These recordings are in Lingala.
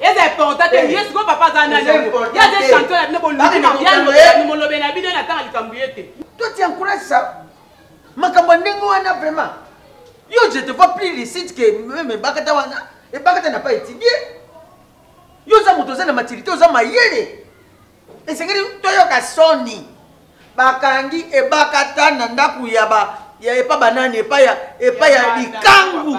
eza important te ye sikoyo papa aza nani ye aza chanteur ya bino boluki mabiano molobe na bino natanga likambo ye te to ti encourage ça makambo ya ndenge wana vraiment yo je te vois plus licite ke meme ebakata wana ebakata na pas étudie yo oza moto oza na maturité oza mayele esengeli toyoka soni bakangi ebakata na ndako ya ba ya epa banani epa ya epa ya likangu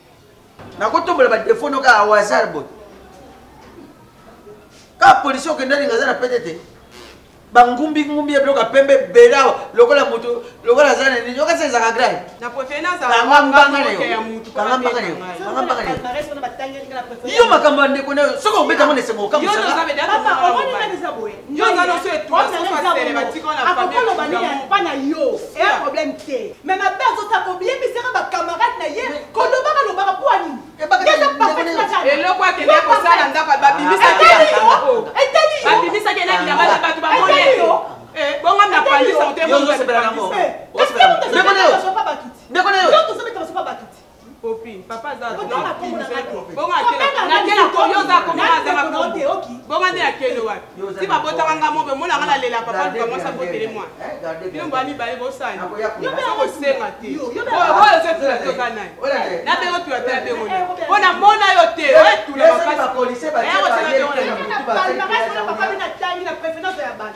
nakotombola badefo no kaka wazar boye kaka polisi okendani nga aza na pete te bangumbi ngumbi ya biloko ya pembe ebele awa lokola moto lokola aza na nini okasi ezaka grave kanga mbanga na yo kanga mbanga na yo kanga mbanga na yo yo makambo ya ndeko na yo soki obeta yango na esengo okambo akokoloba nini epa na yo eya problème te mais mabe azota koyebisaka bacamarade na ye kolobaka lobaka mpo anini eloko akende kosala ndako babimisaki elaki na bana bato bamoni bongo na pandisa otemoaa popi papa aza bonga nde akende wapi ti babotaka nga mobe mona nga nalela papa luka mwasi abotele mwana bino mbwa mibale bosani kosenga te oyo ozotula te oza nani nabengo tula te nabengo ne mpo na mona yo te oyetula makasi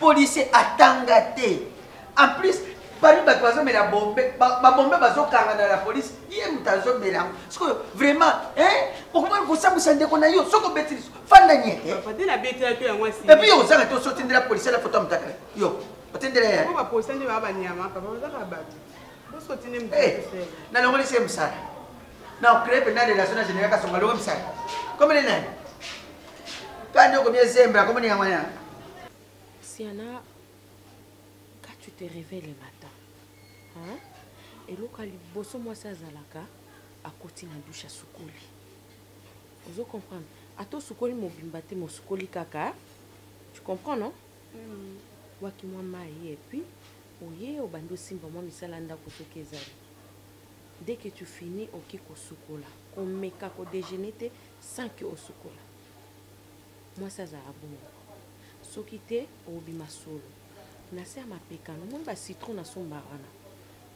policier atanga te en plus parmi bato bazomela bombe babombe bazokanga na la polise ye moto azomela yango sikoyo vraiment okomoni kosambwisa ndeko na yo soki obeti liso fanda nyete epuis yo ozanga te osotindela polise na foto ya motaka yo otindela ye nalongolisi ye mosala na ocree mpenza relation na général kasonga longo misala komene nani kandi okomi ezembra komene yango wana siana ka tu te réveille le matin hein? eloko ya liboso mwasi azalaka akoti na dushe asukoli ozo comprendre ata osukoli mobimba te mosukoli kaka tu comprends non mm. waki mwa mai epuis oye obandi osimba mwa misala ndako soki ezali dès que tu finis oke kosukola komeka ko dejeuner te sans que osukola mwasi azala bongo soki te obima solo na se ya mapeka nomoni ba citron na somba wana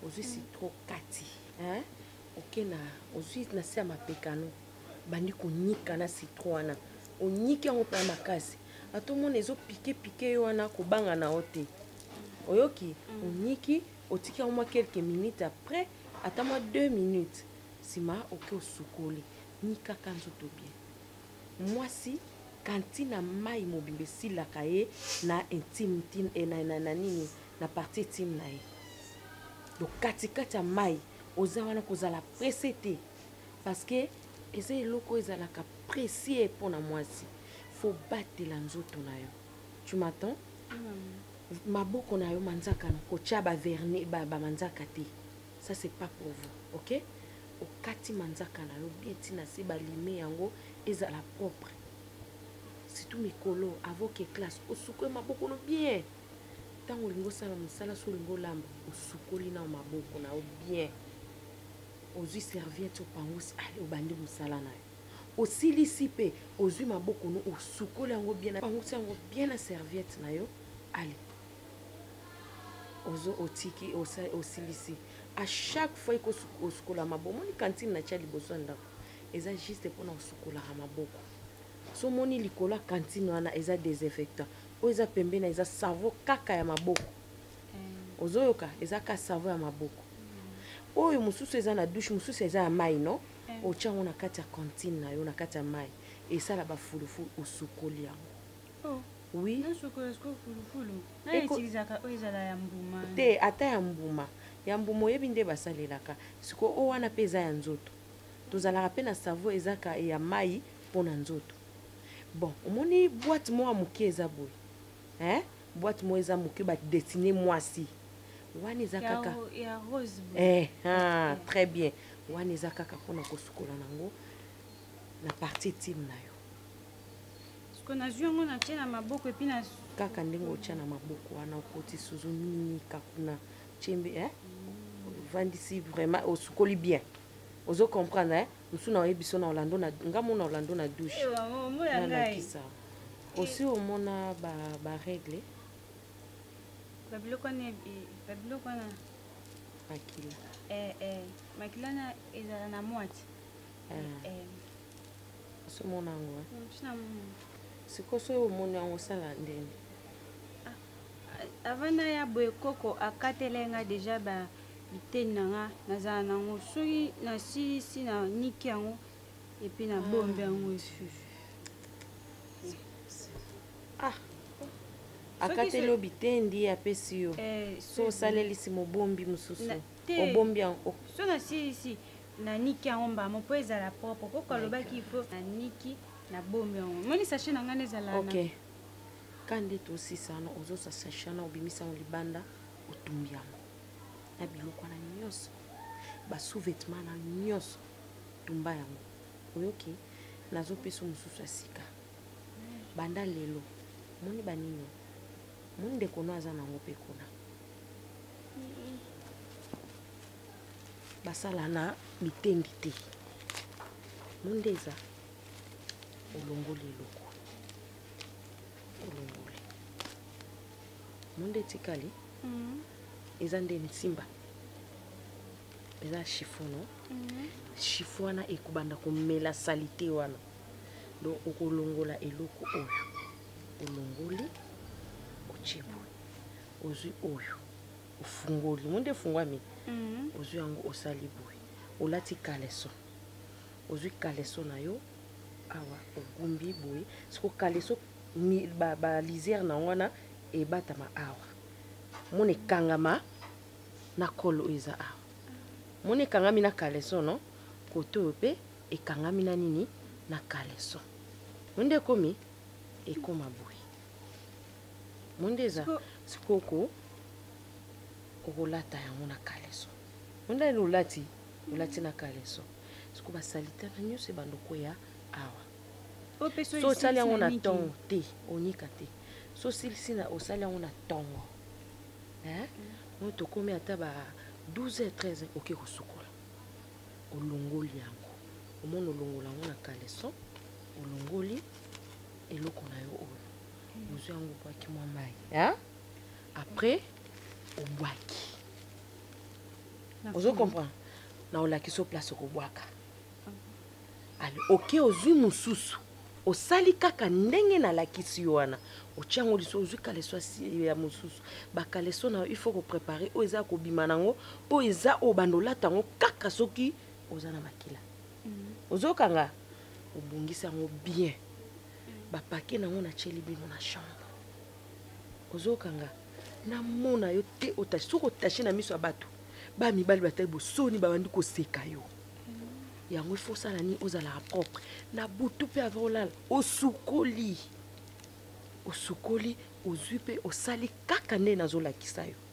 ozwi mm. citron kati hein? oke na ozwi na se ya mapekano bandi konyika na citron wana onyiki yango mpe makasi ata omona ezopike pike yo wana kobanga na yo te oyoki mm. onyiki otiki yango mwa quelques minutes après ata mwa 2 minutes nsima oke osukoli nikaka nzoto bien mwasi kantina mai mobimba esilaka ye na intime tim e, na, na, na nini na parti intime na ye donc katikati ya mai oza wana kozala presse te parce que eza eloko ezalaka precie mpo na mwasi fo batela nzoto na yo tu m'attends mm. maboko na yo manzaka na kotya ba vernis ba, ba manzaka te ça c'est pas pour vous ok okati manzaka na yo bien ntina se balime yango ezala propre surtout mikolo avoc eclasse osukue maboko no bien ntango olingi osala mosala so olingi olamba osukoli nao maboko na yo bien ozwi serviete opangusi ale obandi mosala na yo osilisi pe ozui maboko no osukoli yango bien opangusi yango bien na serviette na yo ale ozo otiki osilisi a chaque fois eko osukola maboko moni kantine na tia liboso ya ndako eza juste mpona osukolaka maboko so moni likolo ya kantine wana eza desinfectant oyo eza pembeni eza savo kaka ya maboko eh. ozoyoka eza ka savo ya maboko oyo mosusu eza na douche mosusu eza ya mai no otya yango na kati ya cantine na yo na kati ya mai esala bafulufulu osukoli yango oh. oui te ata ya mbuma ya mbuma oyebi nde basalelaka sikoyo oyo wana mpe eza ya nzoto tozalaka mpe na savo ezaka ya mai mpo na nzoto bon omoni bwate moko ya moke eza boye eh? boîte moi eza moke ba dessiner mwasi wana eza kaka ya rose eh ah très bien wana eza kaka pona kosukola nango na partie team na yo siko nazwi yango natye na maboko epi na kaka ndenge otya na maboko wana okoti suzu nini kakuna chembe eh? ovandisi vraiment osukoli bien ozo comprendre eh? musu na oyebi so na Orlando na nga mona Orlando na douche na lakisa aussi omona ba ba règle ba biloko na ba biloko na makila eh eh makila na ezala na moite ah. eh, eh. so mona yango sikoyo soki omoni yango osala ndenge Avant naya boye koko akatela nga dejà ba biteni na nga nazala na ngo soki nasilisi na niki yango epuis na bombi yango esusu ah akateli yo bitendi ye apesi yo eh, so osalelisi mobombi mosusu obombi yango so nasilisi naniki yango mbamo mpo ezala propre koko alobaki ifo naniki na bombi yango moni sache na ngai ezala okay. ka ndeti osisa wana ozosa sashe wana obimisa yango libanda otumbi yango na biloko wana nyonso basouvetement na nyonso tumba yango oyoki nazopesa mosusu ya sika banda lelo moni banini moni ndeko no aza nango mpe kuna basala na bitendi te monde eza olongoli eloko monde etikali mm. eza nde nsimba eza chiffon no mm. chiffon wana ekobanda komela salite wana donc okolongola eloko oyo olongoli otie boye ozwi oyo ofungoli mo nde efungwami mm. ozwi yango osali boye olati kaleso ozwi kaleso na yo awa ogumbi boye siko kaleso balisière na yango wana ebatama awa mona ekangama na kolo oyo eza awa mona ekangami na kaleso no kote oyo mpe ekangami na nini na kaleso monde ekomi ekoma boye monde eza sikoko okolata yango na kaleso monde elolati olati na kaleso soko basalite na nyonso ebanda okweya awa so osali yango na ntongo te onika te so osilisi na osali yango na ntongo oyo tokomi ata ba 12 h 13 oke kosukola olongoli yango omoni olongola yango na kaleson olongoli eloko na yo oyo ozwi yango obwaki mwa mai après obwaki ozo comprendre na olakisa place okobwaka ale oke ozwi mosusu osali kaka ndenge nalakisi yo wana otya yango liso ozwi kaleso ya mosusu bakaleso na yo ifo koprepare oyo eza ya kobima na yango oyo eza oyo banda olata yango kaka soki oza na makila mm. ozokanga obongisi yango bien bapake na yango natyeli bino na chambre ozokanga namona yo te otache soki otache na miso ya bato ba mibali batali bosoni babandi koseka yo yango ifo osala nini ozalaka propre na butu mpe ava olala osukoli osukoli ozwi mpe osali kaka nde nazolakisa yo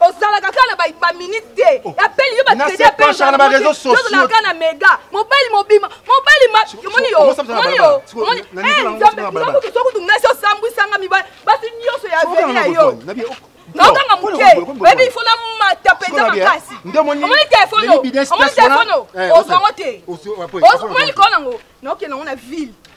ozalaka kaka na baminute te apeli yo batredi apelozalaka kaka na mega mobali mobima mobali moniyosokutu nasi osambwisanga mibali basi nyonso ya veri ya yo naokanga moke oyebi ifo na mata mpenza makasi omoni telefone omoni telefone ozwango te omoni likolo nango naokende yango na ville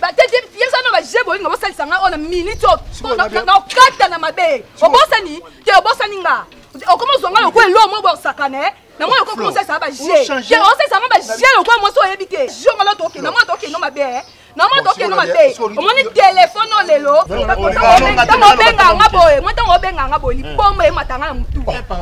batete yebisa no baje bolinga bosalisa nga oyo na minute oyo nakokata na mabe obosani te obosani nga okoma ozwa nga lokola elo moko bosakana eh? na mwana okokoma osalisa nga baje te osalisa nga baje lokola mwasi oyebi te jonga lo tokende mwana tokende mabe eh? na mwa tokende mabe omoni telefone oyo lelo ntango obenga nga boye mwa ntango obenga nga boye libomba ematanga na motu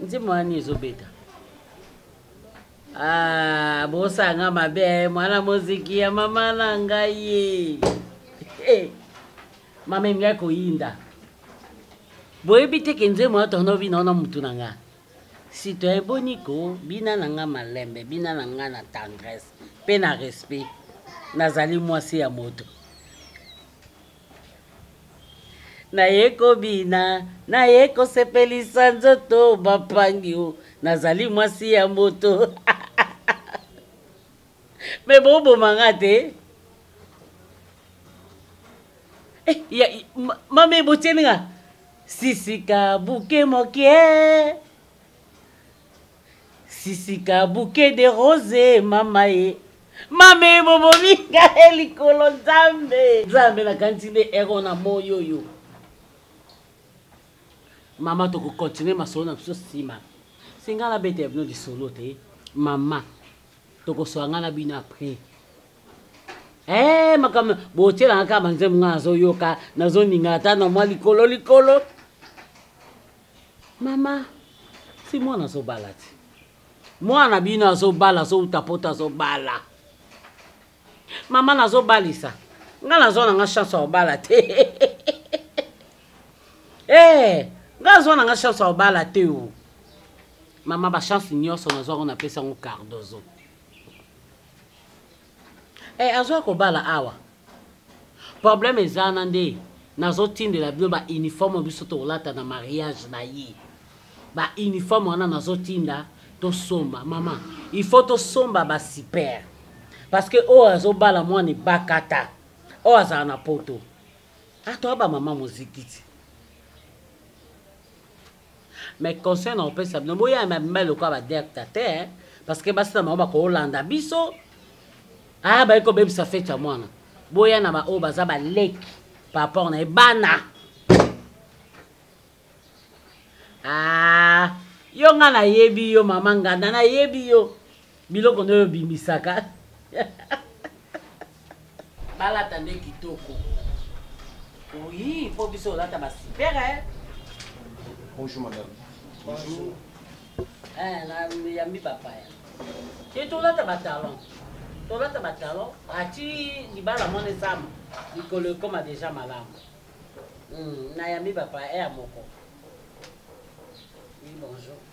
nzembo wani ezobeta ah, bosanga mabe mwana moziki ya mama na ngai ye eh, mama emingai koyinda boyebi te ke nzembo ya tonobi naona motu na ngai Citoyen boni ko bina na nga malembe, bina na nga na tendresse pe na respect. Nazali mwasi ya moto. naye kobina naye kosepelisa nzoto bapangi o nazali mwasi ya moto me boboma nga te eh, mame botieni nga sisika buke mokie sisika buke de rose mama ye mame bobomi ngai likolo nzambe nzambe nakanisi nde ero na moi oyo mama tokokontinue masolo na biso nsima singa nabeta ya bino lisolo te mama tokoswa ngai na bino apres ee eh, makambo botyelanga kaka banzembo ngai nazoyoka nazoninga ata na mwa likolo likolo mama si mwana azobala te mwana bino azobala azouta poto azobala mama nazobalisa ngai nazwa na ngai chance ya kobala te ee eh, ngai nazwa na ngai chance ya kobala te o mama bachance nyonso nazwako napesa yango cardozo Eh, azoya kobala awa problème ezana nde nazotindela bino ba uniforme biso tokolata na mariage na ye ba uniforme wana nazotinda tosomba mama il faut tosomba ba super parce que oyo azobala mwana ebakata oyo azala na poto atoya ah, bamama mozikiti mais conseil na kopesa bino boya ma mibali lokola badirecta te eh. parce que basi na bango bakolanda biso aa ah, baye kobebisa fete ya mwana boya na baoyo baza baleki par rapport na ye bana aa ah, yo nga nayebi yo mama nganda nayebi yo biloko nde oyo obimisaka balata nde kitoko oui mpo biso olata basipere eh. bonjour madame bonjour eh, na yambi bapaya te tolata batalon tolata batalon ati libala mwana esama likolo ekoma deja malamu hmm, na yambi bapaya eya eh, moko oui bonjour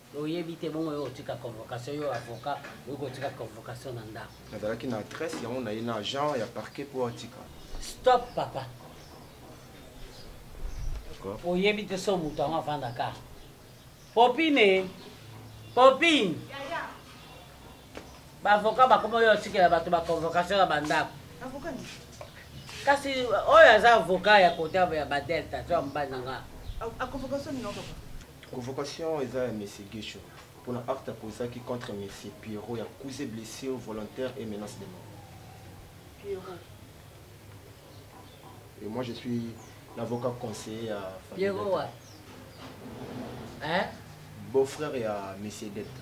oyebi te bongo yo otika convocation yo avocat oyo kotika convocation na ndako nazalaki na adresse yango na ye na agent ya parquet mpo atika stop papa oyebi te so moto yango afandaka popine popine ba avocat bakoma oyo atikela bato ba convocation ya bandako kasi oyo aza avocat ya kote ya badelta to ya mobali na nga convocation eza ya monsieur guesho mpona acte aposaki contre monsieur pierrot ya cause blessure volontaire et menace de mort pierrot et moi je suis l'avocat conseiller ya pierrot wa hein? beau frère ya monsieur delta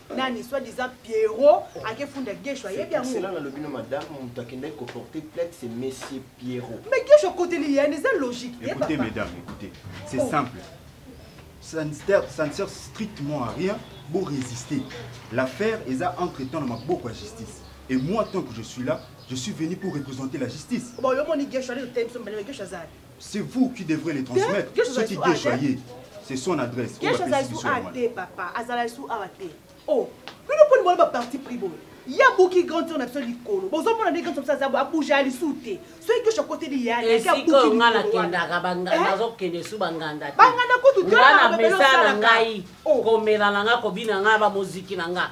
nani soit disant pierrot akefunda gesho ayebi yango cela nalobi no madame moto akendaki koporte plainte c'est monsieur pierrot mais gesho akoteli yene eza logique te écoutez mesdames écoutez c'est oh. simple ça ne, sert, ça ne sert strictement à rien pour résister l'affaire eza entre temps na maboko ya justice et moi tant que je suis là je suis venu pour représenter la justice bon yo moni gesho ali otembi so mbele gesho azali C'est vous qui devrez les transmettre. Quelque chose à Soki Guesho aye, c'est son adresse. Quelque chose à sous até, papa. Azala sous até. Oh, nous ne pouvons pas parti pris bon. ya buki grand tour na biso likolo bozomona nde grand tour biso azabu abuja alisu te soki kesho akoteli yaesikoyo nga nakendaka nazokende su banganda banganda kutu nga na mesa na ngai komela na nga kobina nga bamoziki na nga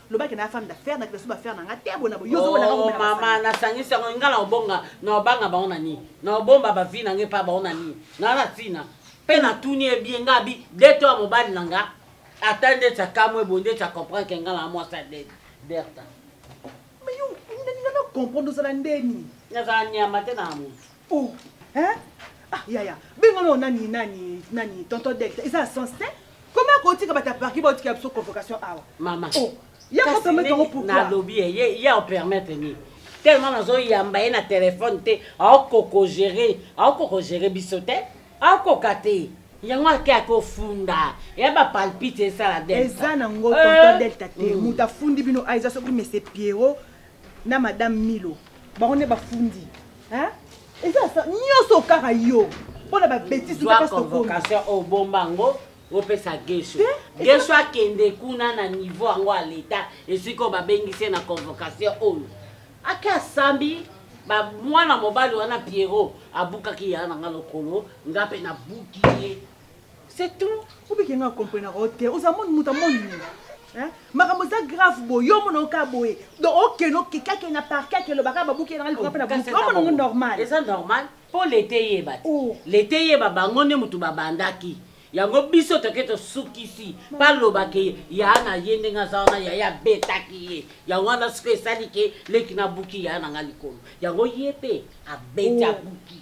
loba ke na femme d'affaires na kila suba affaire na nga te bona bo yozo bona ko mama na sangisa ngo ngala obonga na obanga ba ona ni na obomba ba vie na nge pa ba ona ni na na tina pe na tuni e bien nga bi deto a mobali na nga ata nde tsa kamwe bonde tsa comprendre ke ngala moi ça de berta mais yo ndani na comprendre ozala ndeni nazala nyama te na mutu oh hein ah yaya benga no nani nani nani tonton delta eza sens te comment akotika bata parki baotika biso convocation awa mama oh ye ko permettre yango pourquoi nalobi ye ye o permettre nini tellement nazoyamba ye na telefone te aokoko gere aokoko gere biso te aokoka te yango ake akofunda ya bapalpite esala eza na ngo tonton delta te moto afundi bino aiza soki mese piero na madame milo bango nde bafundi eza nyonso kaka yo mpo na babetise convocation oyo bomba yango opesa gesho gesho akende kuna na niveau yango ya leta esika oyo babengisi ye na convocation oyo ake asambi mwana mobali wana pierrot abukaki ya na nga lokolo nga mpe nabuki ye c'est tout obike nga comprenaka yo te oza moni moto amoni nini makambo eza grave boye yo omona oka boye donc okende okekake na parke ake elobaka babuki enanga likoka mpe na buki omona ngo normal eza normal mpo leta eyeba te oh. leta eyeba bango nde motu babandaki yango biso toke tosukisi balobake ya na ye ndenge aza wana yaye abetaki ye yango wana soki esali ke leki nabuki ya na nga likolo yango ye mpe abeti abuki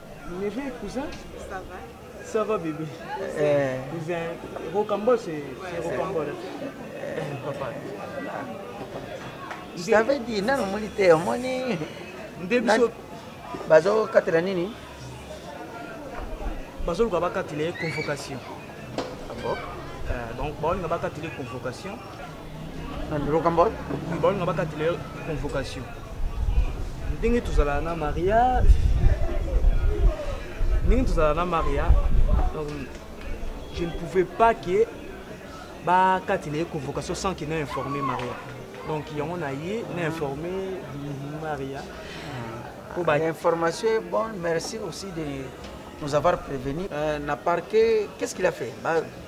Neveu et cousin Ça va. Ça va bébé Eh. Cousin, rocambole c'est c'est rocambole. Papa. Je t'avais dit, nanu omoni te omoni Nde biso bazokatela nini bazoluka bakatela ye convocation Ah bon? Euh, donc baolinga bakatela ye convocation lokambo baolinga bakatela yo convocation ndenge tozalaka na maria ndenge tozalaka na maria donc je ne pouvais pas que bakatela ye convocation sans que na informe maria donc yango na ye na informe maria mpo ba information est bonne merci aussi de nous avoir prévenu euh, na parquet qu'est ce qu'il a fait ba,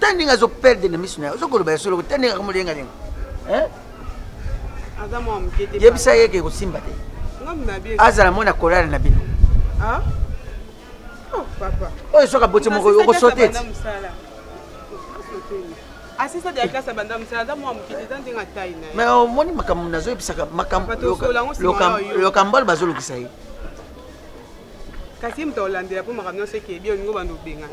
ta ndenge azo perdre na miso na ye ozo koloba ya solo ta ndenge akomolenga ndenge yebisa ye ke kosimba te azala mwana kolala na bino ah? oh, oyo soki aboti moko okosote ti asisa de la classe abanda mosala aza mwa moke eza ndenge atai na ye mais omoni makambo nazoyebisaka makambokambo oyo bazolukisa ye kasi ye moto akolandela mpo makambo nyonso ekebi olingo banda obengana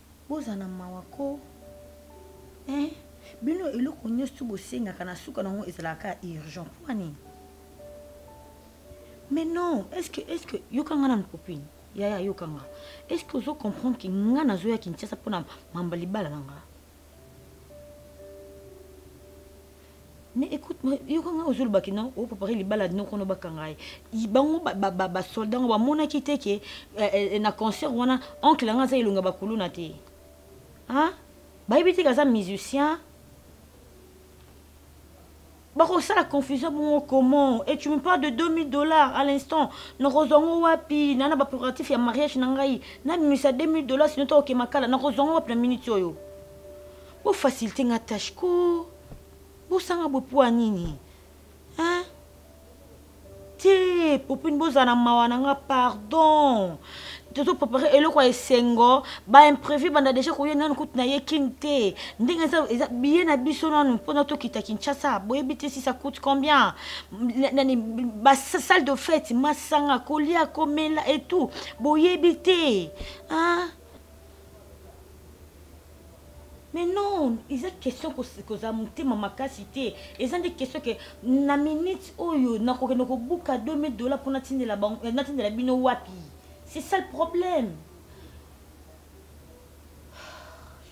Boza na mawa ko eh bino eloko nyoso bosengaka na suka nango ezalaka urgent mpo nini mais non est ce que est ce que yoka nga nanu copine yaya yoka nga est ce que ozo comprendre ke nga nazoya kinshasa mpo na mamba libala na nga mais écoute yoka ngai ozolobaki non opropare libala noko no bakanga ye bango basoldat yango bamonaki te ke eh, eh, na concert wana oncle yango aza elonga bakuluna te bayebi te ke aza musicien bakosala confusion bongo comment et tu me parle de 2000 dollars à l'instant nakozwa ngo wapi na na baproguratif ya mariage na ngai nabimisa 2000 dollars sino tokokema kala nakozwa ngo wapi na minute oyo Bo facilite nga tâche ko. Bo sanga bo poa nini? Hein? Te, popine bo zana mawa na nga pardon. Tozo préparer eloko ya esengo, ba imprévu banda déjà ko yena nanu kutu na ye kin te. Ndenge eza eza billet na biso nanu pona to kita Kinshasa. Boye bite si ça coûte combien? Nani ba salle de fête, masanga, kolia, komela et tout. Boye bite. Hein? mais non eza question kozala motema makasi te eza nde question ke na minute oyo nakokende kobuka 2000 dollar mpo natindela eh, bino wapi c'est ça le problème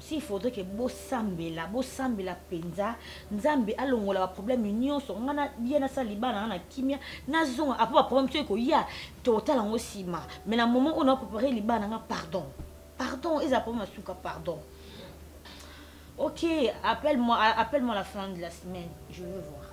si faudrait ke bosambela bosambela mpenza nzambe alongola baproblème nyonso ngai na ye nasala libala na ngai na kimia nazonga apo baproblème soki koya tokotala yango nsima mai na moment oyo naprepare libala na ngai pardon pardon ezala problème ya suka pardon ok appelle moi appelle moi la fin de la semaine je veux voir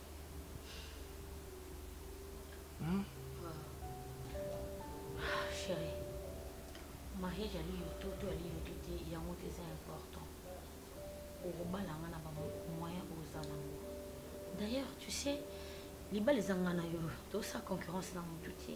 Hmm? Ah, chérie, mariage ali yo to to ali yo to te yango te eza important okobala nga na bamoyen oza nango d'ailleurs tu sais libala eza nga na yo tosa concurrence na motu te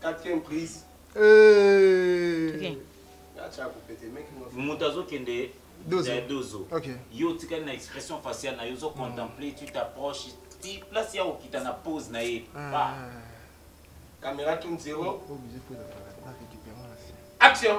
Quatrième prise. Euh... Okay. moto azokende ya dozo yo otikali na expression faciale na yo ozo contemple tu t'approche ti place ya kokita na pose na ye ah. caméra tout zero action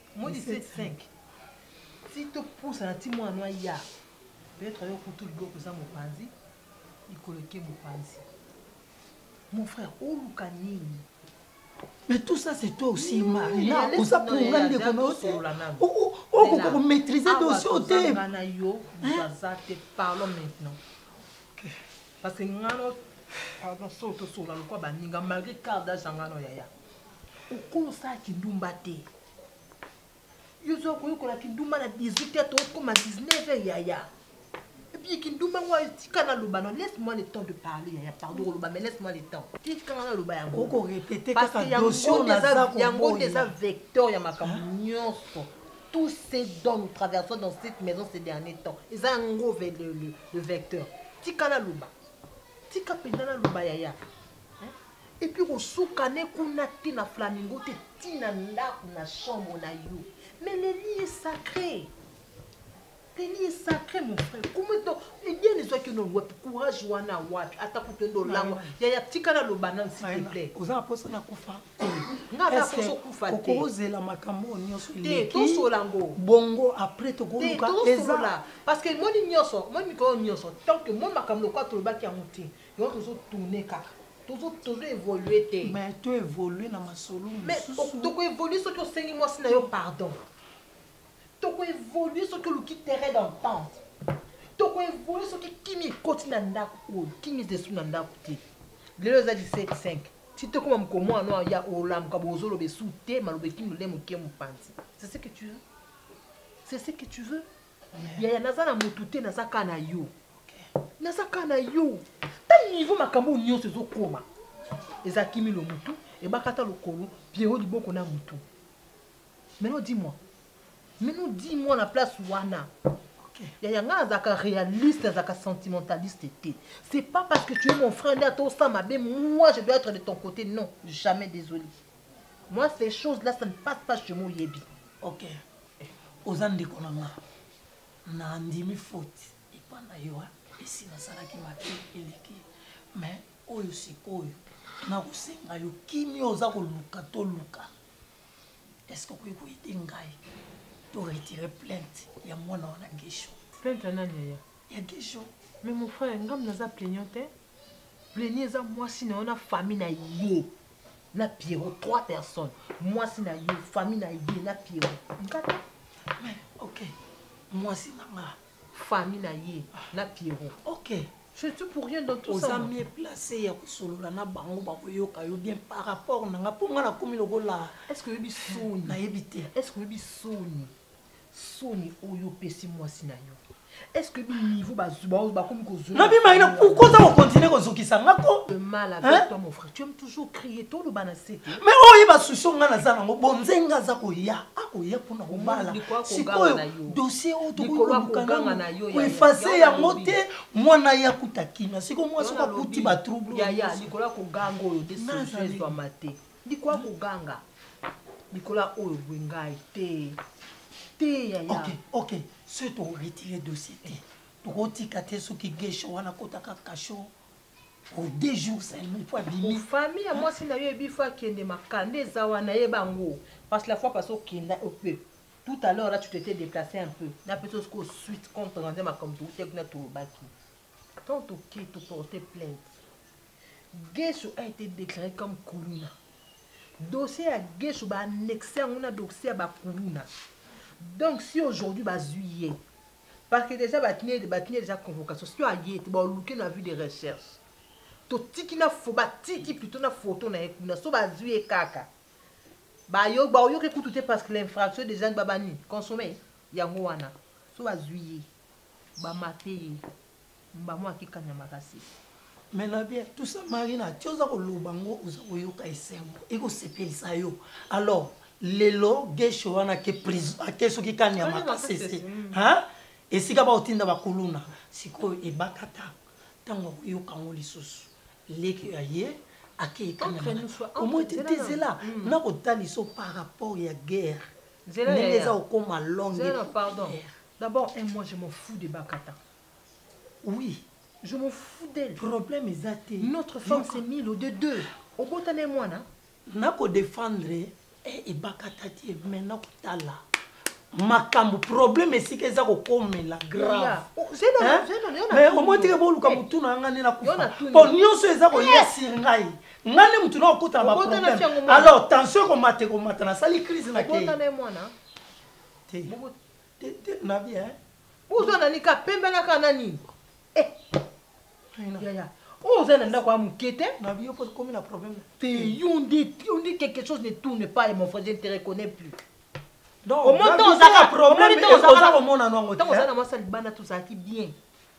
Moi 17 5. Ti to pousa na ti mwana no ya. Peut-être yo kutu liboko za mopanzi. Ikoleke mopanzi. Mon frère, oluka nini? Mais tout ça, c'est toi aussi, Marina. Tout ça pour nga nde kono aussi. Okoka ko maîtriser ah, dossier au thème. Ngana yo, baza te parlons maintenant. Parce que ngano pardon, soto sola lokwa baninga malgré carte d'âge ngano yaya. okolo osala kindumba te yo oza koyekola kindumba na 18 heure tokokoma 19 heure yaya epuis kindumba ngo tika naloba no laisse moi le temps de parler yaya pardon koloba mais laisse moi le temps tika nga naloba yangoyango nde eza vecteur ya makambo nyonso tout ce dont nous traversons dans cette maison ces derniers temps eza yango le vecteur tika naloba tika mpenza naloba yaya Et puis kosuka ne kuna te na flamingo te ti na ndako na chambre na yo mais le lit est sacré le lit est sacré mon frère comment donc bien ezwaki no wapi courage wana wapi ata kutu ende olangwa yaya tika naloba nanu s'il te plaît oza na posa na kufa nga na posa okufa te okozela makambo oyo nyonso te tosola ngo bongo après tokoluka eza parce que moni nyonso moni mikolo nyonso tant que moni makambo lokola tolobaki yango te Yo tozo tourner kaka. Tozo tozo évoluer te. Mais to évoluer na masolo mosusu. Mais to ko évoluer soki osengi mwasi na yo pardon. To ko évoluer soki oluki terrain d'entente. To ko évoluer soki kimi ekoti na ndako oyo. Kimi esu na ndako te. Lelo eza 17 5. Ti tokoma mokomo ano ya olamuka bozoloba esu te maloba ekimi lolemo ke mopanzi. C'est ce que tu veux? C'est ce que tu veux? yaya naza na motu te naza ka na yo naza ka na yo ta niveau makambo oyo nyonso ezokoma eza kimi lo motu ebakata lokolo piero liboko na motu maintenant dis moi maintenant dis moi na place wana yaya ngai nazalaka réaliste nazalaka sentimentaliste te c'est pas parce que tu es mon frère nde ata osa mabe moi je dois être de ton côté non jamais désolé moi ces choses là ça ne passe pas chez moi oyebi okay. oza ndeko na nga na ndimi faute epa na yo esi nasalaki mabe eleki mais oyo sikoyo nakosenga yo kimia oza koluka toluka est ce que okoki koyede ngai to retire plainte ya mwana wana gesho plainte ya nani yaya ya gesho mais mon frère ngam naza plaignant te plaignant eza mwasi na yo na famille na yo na Pierrot trois personnes mwasi na yo famille na ye na Pierrot nkata mais ok mwasi na nga famille na ye na Pierrot ok je suis pour rien dans tout ça oza mieux placé ya kosolola na bango bakoyoka yo bien par rapport na nga mpo nga nakomi lokola est ce que oyebi soni nayebi te est ce que oyebi soni soni oyo opesi mwasi na yo eske bi niveau bazuba bakomi kozonabimai na pourkoi oza kokontinue kozokisa nga ko mais oyo ye basusi onga naza nango bonze nga aza koya akoya mpona kobala sikoyo dosie oyo tokoiefase yango te mwana ye akuta kimia sikoyo mwa soki akuti batrouble Likoya koganga likolo ya oyo bwe ngai te te yaya. Ok ok soki to retire dossier te tokotika te soki gesho wana akotaka kasho pour deux jours seulement il faut abimi. Famille ya mwasi na yo ebi faut akende makanda eza wana yeba yango parce que la fois passée okenda un peu tout à l'heure là tu t'étais déplacé un peu napesa sikoyo suite compte rendu ya makambo toutaki kuna tolobaki. Quand toke to porter plainte, Guesso a été déclaré comme kuluna. Dossier ya Guesso ba annexer yango na dossier ya ba kuluna. Donc si aujourd'hui bazui ye, parce que déjà batini batini déjà convocation, si aye te ba oluke na vue de recherche. Totiki na fo batiki plutôt na photo na ye kuna, so bazui ye kaka. Ba yo ba oyoke kutu te parce que l'infraction déjà babani consommée yango wana. So bazui ye. Ba mate ye. Mbamo ake kanya makasi. Mais na bien tout ça Marina ti oza koloba ngo oza koyoka esengo ekosepelisa yo alors lelo geshe wana ake prison ake soki kani ya makasese mm. esika bakotinda bakuluna sikoyo ebakata ntango akoyoka yango lisusu leki ya ye akei kaniaomoi te te zela mm. nakotaliso par rapport ya guerre ndenge eza kokoma longue D'abord un moi je m'en fous de Bakata. Oui, je m'en fous d'elle. Problème eza te. Notre femme c'est Milo de deux. Obota na mwana. Na ko défendre et eh, eh, Bakata te mais na kotala. makambo problème esika eza kokomela grave oh, mais omotike boluka eh. motu na ngai nde nakufa mpo nyonso eza koya sur ngai ngai nde motu na kokutana baproblème alors tension ekomata ekomata nasali crise na kei tete na vie hein oza nani ka pembe na ka nani eh yaya oyo oza na ndako ya moke te na vie opo komi na problème te yo nde yo nde quelque chose ne tourne pas et mon frère je ne te reconnais plus omoni ntango ozaka omoni ntango ozaka omona nango te ntango oza na mwasi ya libanda tozalaki bien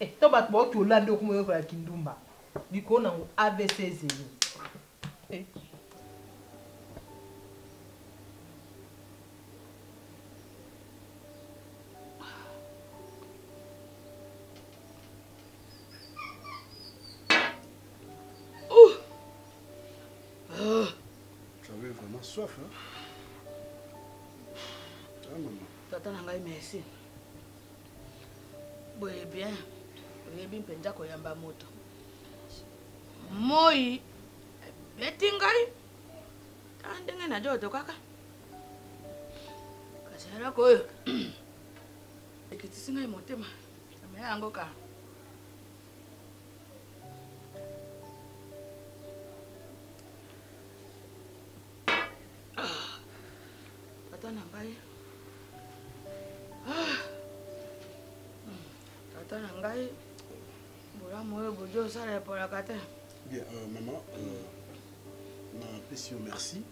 Eh to bato bauti olambi okoma oyekola kindumba likolo nango avc ezeli eh. soif hein? ah, maman. tata na ngai merci boye bien oyebi mpenza koyamba moto moi ebeti ngai ta ah, ndenge najo otokaka kasi eloko oyo ekitisi ngai motema amela yango ka tata na ngai ah. tata na ngai bolamu oyo bodi osala epolaka te bien euh, mama euh, napesi yo merci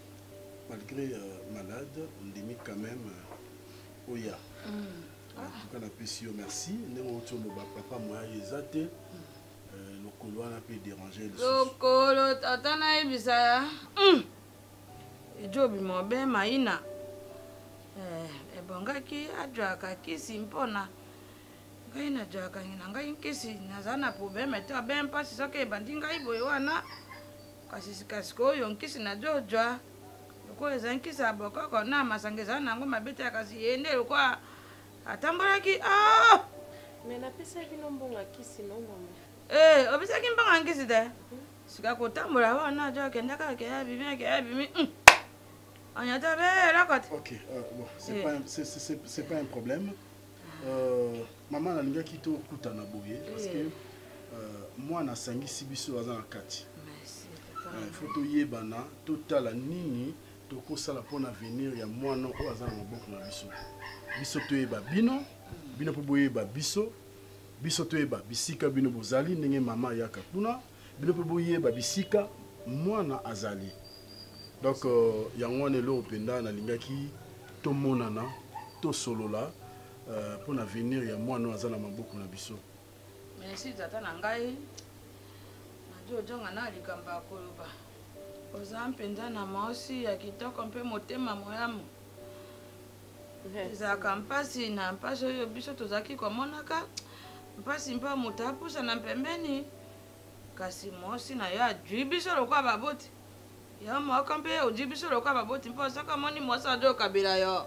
malgré euh, malade ndimi quand même euh, oya mm. en tout cas napesi yo merci ndenge oti oloba papa moya eza te mm. Euh, lokolo wana mpe derange lokolo tata nayebisa ya hmm. ejobi mobe maina eh, ebongaki ajwaka kisi mpona ngai najwaka na ngai nkisi naza na probleme te abe mpasi soki ebandi ngai boye wana kasi sikasikoyo nkisi najojwa lokola eza nkisi ya bokoko na masanga eza nango mabe te kasi yende lokola atambolaki ah! me napesaki bino mbongo ya kisi no mama ee eh, obisaki mbongo ya nkisi te mhm. sika kotambola wana ajo akenda kaka keya bimi akeya bimi hmm. anyata be eloko te ok euh, bon c'est eh. pas c'est pas un problème euh, mama nalingaki tokutana boye parce que eh. euh, mwana asangisi biso aza na kati il faut toyebana totala nini tokosala mpo na avenir ya mwana oyo aza na maboko na biso biso toyeba bino bino mpo boyeba biso biso toyeba bisika bino bozali ndenge mama ayaka kuna bino mpe boyeba bisika mwana azali donc euh, yango wana eloko mpenza nalingaki tomonana tosolola euh, mpo na avenir ya mwana oyo aza na maboko na biso merci tata na ngai najo ojanga na likambo ya koloba oza mpenza na maosi ya kitoko mpe motema moyamu ezalaka mpasi na mpasi oyo biso tozalaki komonaka mpasi mpo moto apusana mpembeni kasi mosi na yo ajui biso lokola baboti yo moko mpe ojui biso lokola baboti mpo soki omoni mosi ajo okabela yo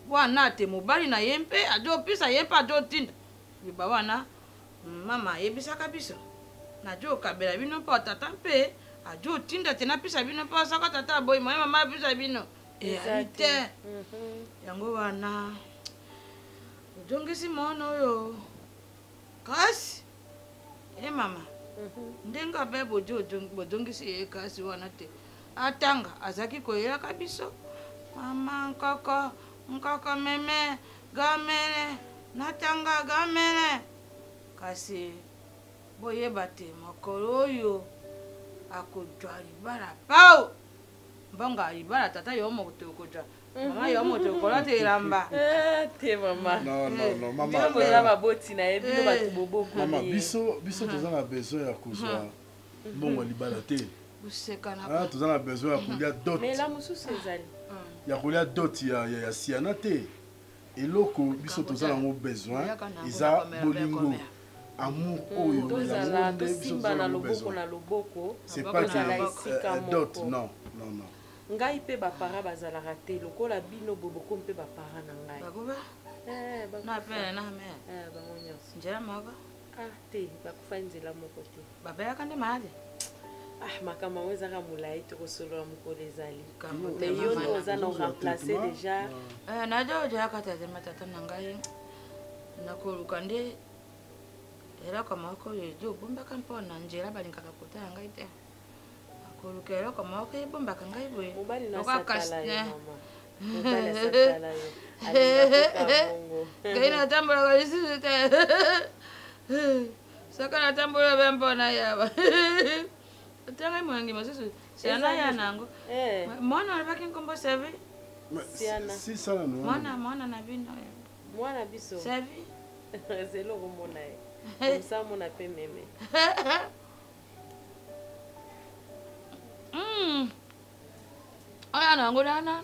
Wana te mobali na ye mpe ajopesa ye mpe ajotinda liba wana mama ayebisaka biso najokabela bino mpo tata mpe ajotinda te napesa bino mpo asaka tata aboyi moye mama apesa bino eyali te mhm. yango wana ojongisi mwana oyo kasi e mama ndenge abe bozongisi ye kasi wana te atanga azalaki koyelaka biso mama nkoko nkoko meme gamele natanga gamele kasi boyeba te mokolo oyo akozwa libala pao mbonga iba na tata yo moko tokodja mama yo moto okolata elamba eh, te mamaoza baboti na ye bino eh. bato bobokoma biso biso hmm. toza na besoin ya kozwa hmm. mbongo ya libala te ah, toza na besoin ya kolia dot ya kolia dot ya siana te eloko biso toza nango besoin eza bolingo amour mm, oyo tozala tosimbana loboko na loboko tozala esika euh, moko non non non ngai mpe bapara bazalaka te lokola bino boye bokomi mpe bapara na ngai eh, bango nyonso ah te bakufai nzela moko te babayaka nde malade ah makambo yango ezaka molai tokosolola mokolo ezali mais yo nde oza na remplace déjà eh, naja ojaka tata matata na ngai nakoluka nde eloko moko oyo ezobombaka mpo na nzela balingaka kotala ngai te koluka eloko moko ebombaka ngai boye ngai natambolaka lisusu te soki natambola be mpona yaba otangai molangi mosusu siana ya nango eh. mwana olobaki nkombo sevi mwana mwana na bino mwana biso sevi zelo okomona ye osamona mpe meme hmm. oya na yango nana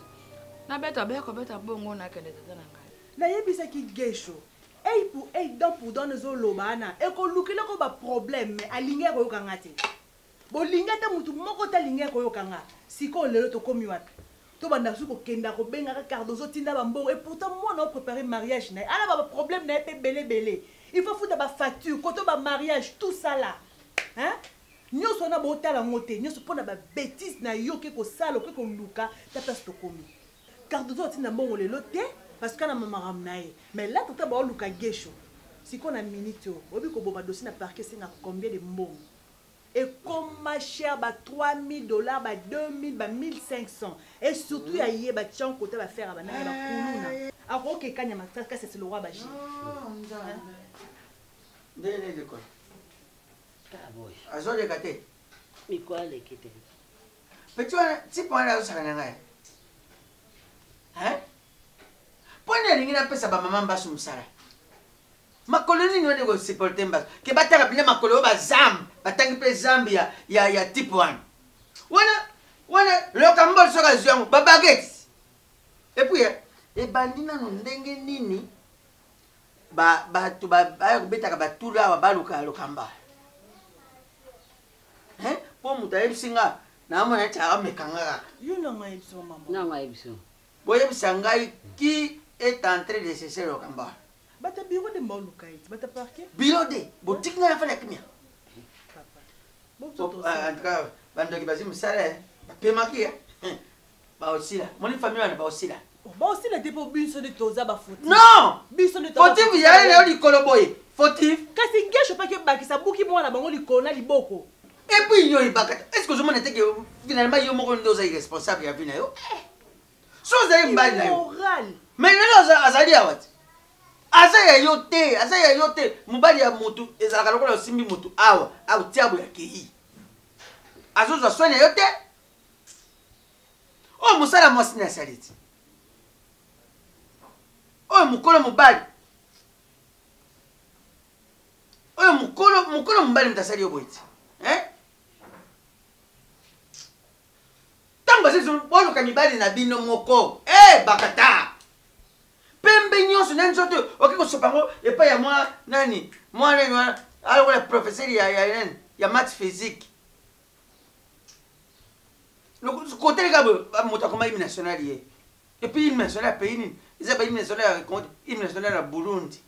nabeta baya kobeta bongo nakende tata na ngai nayebisaki gesho ei pour ei dan pour dan ezoloba wana ekolukela ko baproblème mais alingi ya koyoka nga te bolingi ata motu moko te alingi ya koyoka nga sikoyo lelo tokomi wapi To banda lisusu ko kenda ko benga ka cardozo tinda ba mbongo et pourtant mwana o prepare mariage naye ala ba problème naye pe bele bele il faut futa ba facture koto ba mariage tout ça là hein nionso wana bo tala ngo te nionso pona ba betise na yo ke ko sala ke ko luka ta place to komi cardozo atinda mbongo lelo te parce que ana mamaram naye mais là tata ba luka gesho siko na minute oyo obi ko boma dossier na parquet senga combien de mbongo ekoma cher ba 3000 dollars ba 2000 ba 1500 et surtout ya ye ba tian kota ba faire banana ba kuluna akoke kanya makasi kasi c'est le roi baji ndele de quoi kaboy azoleka te miko aleki te petit wana tipe wana azosaka na ngai mpo nini alingi napesa bamama mbasu mosala Makolo nini wana eko supporter mbasu? Ke batanga bina makolo oyo ba zambe, batangi pe zambe ya ya ya type wana. Wana wana loka mbol soka zwi yango ba baguettes. Et puis eh, ebandi nanu ndenge nini ba bato ba ba kobetaka batula awa baluka lokamba. Hein? Po moto ayebisi nga na amona ti amekanga kaka. Yo nanga yebisa maman. Nanga yebisa. Boyebisa ngai qui est entré de cesser lokamba. Bata bureau de mbao lukaiti, bata parquet. Bureau de, botiki ngai afala kimia. Papa. Bon, en tout cas, bandoki bazi musala, eh. bapemaki ya. Eh. Baosila. Moni famille wana baosila. Oh, baosila te po biso nde toza ba fautif. Non! Biso nde toza. Fautif ya ye na yo likolo boye. Fautif. Kasi ngesho paki bakisa buki mwana bango likolo na liboko. Et puis yo ebaka est-ce que ozomona te que finalement yo moko nde oza irresponsable ya vie na yo eh. so ozali mbali na yo mais lelo azali awa te aza ya yo te aza ya yo te mobali ya motu ezalaka lokola osimbi motu awa aotia boye akei azozwa swani ya yo te oyo oh, mosala mwasi nde asali ti oyo oh, mokolo mobali oyo mokolo mokolo mobali moto asali yo boye ti ntango bazali boluka mibali na bino moko e bakata pembe nyonso na nzoto oke kosopa yango epai ya mwa nani mwa nani wana alokola professeur ya, ya nani ya math physique koteleka boye moto akoma hymne national ye epuis hymne national ya pays nini eza ba hymne national ya hymne national ya burundi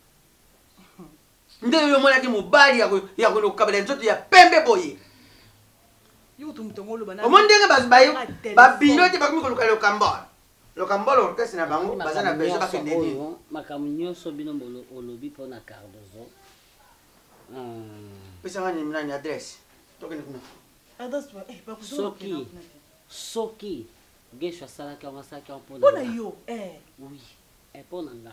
nde yo omonaki mobali ya kokabela nzoto ya pembe boye omoni ndenge babino te bakomi koluka lokambol lokambol orkestre na bango baza na besoin bakende nini makambo nyonso bino olobi mpo na cardozo hmm. pesanga nani adresse tokende kuna eh, soki soki gesho asalaki yango asalaki yango mpona yo eh. oui eh, mpo na nga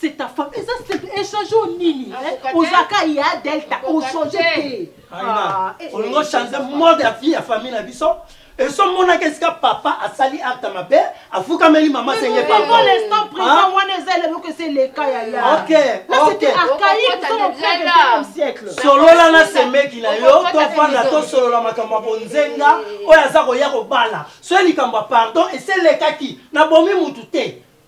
c'est ta femme eza échange oyo nini ozalaka ya delta ochange te ah, eh, eh, olingi ochange eh, mode ya vie ya famille na biso eso monaki esika papa asali acte mabe afukameli mama senge pardonlestant présent wana eza eloko esi eleka yayasolola na semeki na yo tofanda tosolola makambo ya bonzenga oyo aza koya kobala soki likambo ya pardon esi elekaki nabomi mutu te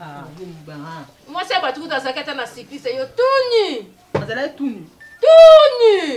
Ah, ah. mwasi ya bato kuta azalaki ata na siklise yo tuni azalaki tuni tuni